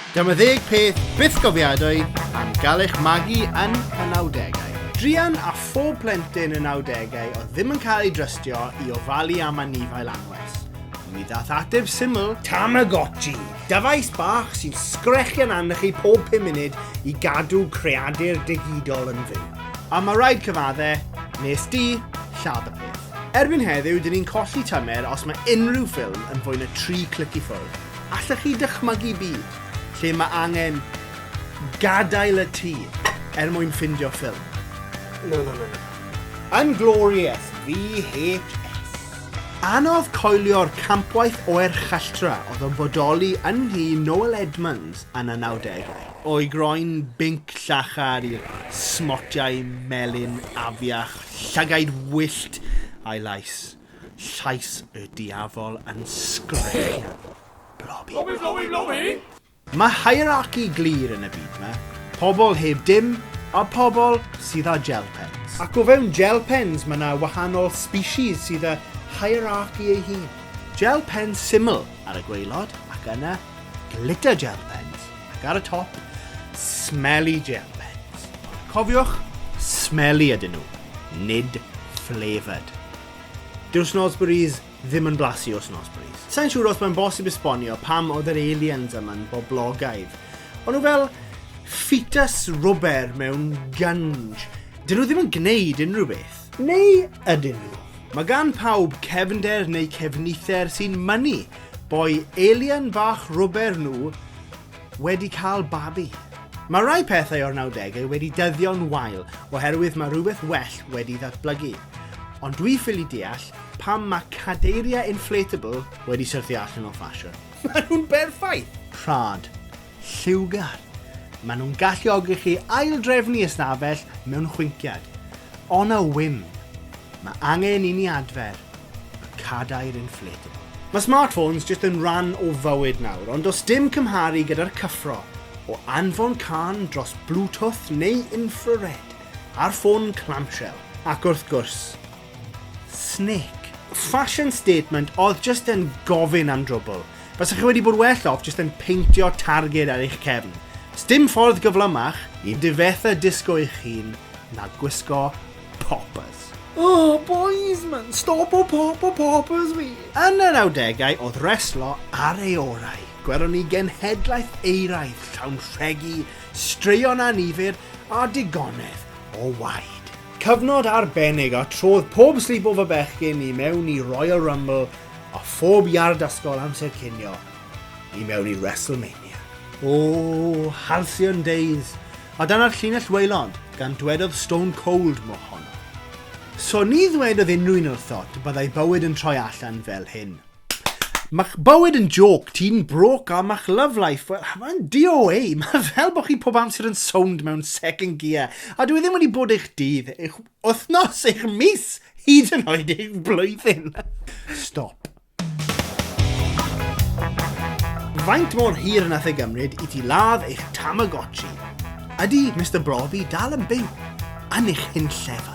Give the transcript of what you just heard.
Dyma ddeg peth byth gofiadwy am gael eich magu yn y 90au. Drian a phob plentyn yn awdegau oedd ddim yn cael ei drystio i ofalu am anifail anwes. Mi ddath ateb syml, Tamagotchi, dyfais bach sy'n sgrechian arnych chi pob 5 munud i gadw creadur digidol yn fyw. A mae rhaid cyfadde, nes di, lladd y peth. Erbyn heddiw, dyn ni'n colli tymer os mae unrhyw ffilm yn fwy na tri clic i ffwrdd. Allech chi dychmygu byd lle mae angen gadael y tŷ er mwyn ffindio ffilm? Na, na, na, na. Yn glorious, VHS. Anodd coelio'r campwaith oer challtra oedd yn bodoli yn nhŷ Noel Edmonds yn y nawdegau. O'i groen binc llachar i'r smotiau melyn afiach Llygaid wyllt a'i lais. Llais y diafol yn sgrechian. Blobi. Blobi, blobi, blobi! Mae hierarchy glir yn y byd 'ma. Pobl heb dim a pobl sydd â gel pens. Ac o fewn gel pens mae 'na wahanol species sydd â hierarchy ei hun. Gel pens syml ar y gwaelod ac yna glitter gel pens. ac ar y top, smelly gel pens. Ond cofiwch, smelly ydyn nhw, nid flavoured. Dyw'r Snozzberries ddim yn blasu o Snozzberries. Sa'n siŵr os mae'n bosib esbonio pam oedd yr aliens yma'n boblogaidd. O'n nhw fel ffetus rwber mewn gunj. Dyn nhw ddim yn gwneud unrhyw beth. Neu ydyn nhw? Mae gan pawb cefnder neu cefnither sy'n mynnu Boi alien bach rwber nhw wedi cael babi. Mae rhai pethau o'r 90au wedi dyddio'n wael oherwydd mae rhywbeth well wedi ddatblygu. Ond dwi ffili deall pam mae cadeiriau inflatable wedi syrthio allan o ffasiwn. Mae nhw'n berffaith! Rhad. Lliwgar. Maen nhw'n galluogi chi aildrefnu ystafell mewn chwinciad. On a whim. Mae angen i ni adfer y cadair inflatable. Mae smartphones jyst yn rhan o fywyd nawr, ond does dim cymharu gyda'r cyffro o anfon cân dros Bluetooth neu infrared ar ffôn clamshell. Ac wrth gwrs, Snic. Fashion statement oedd just yn gofyn am drwbl. Faswch chi wedi bod well off just yn peintio targed ar eich cefn. Sdim ffordd gyflymach i difetha disgo eich hun na gwisgo poppers. Oh, boys man, stop o pop o poppers fi! Yn yr awdegau oedd reslo ar ei orau. Gwelwn ni genhedlaeth eiraidd llawn rhegi, straeon anifyr a digonedd o waed. Cyfnod arbennig a trodd pob sleepover bechgyn i mewn i Royal Rumble a phob iard ysgol amser cinio i mewn i WrestleMania. O, halcyon days, a dyna'r llinell waelod, gan dwedodd Stone Cold mo honno. So ni ddwedodd unrhyw un wrtho dy byddai bywyd yn troi allan fel hyn. Mae'ch bywyd yn jôc, ti'n broke a mae'ch love life, wel, mae'n DOA. Mae fel bod chi pob amser yn sownd mewn second gear. A dwi e ddim wedi bod eich dydd, eich wythnos, eich mis, hyd yn oed eich blwyddyn. Stop. Faint mor hir yn ei gymryd i ti ladd eich Tamagotchi? Ydy Mr Brofi dal yn byw? Yn eich hyn llefa?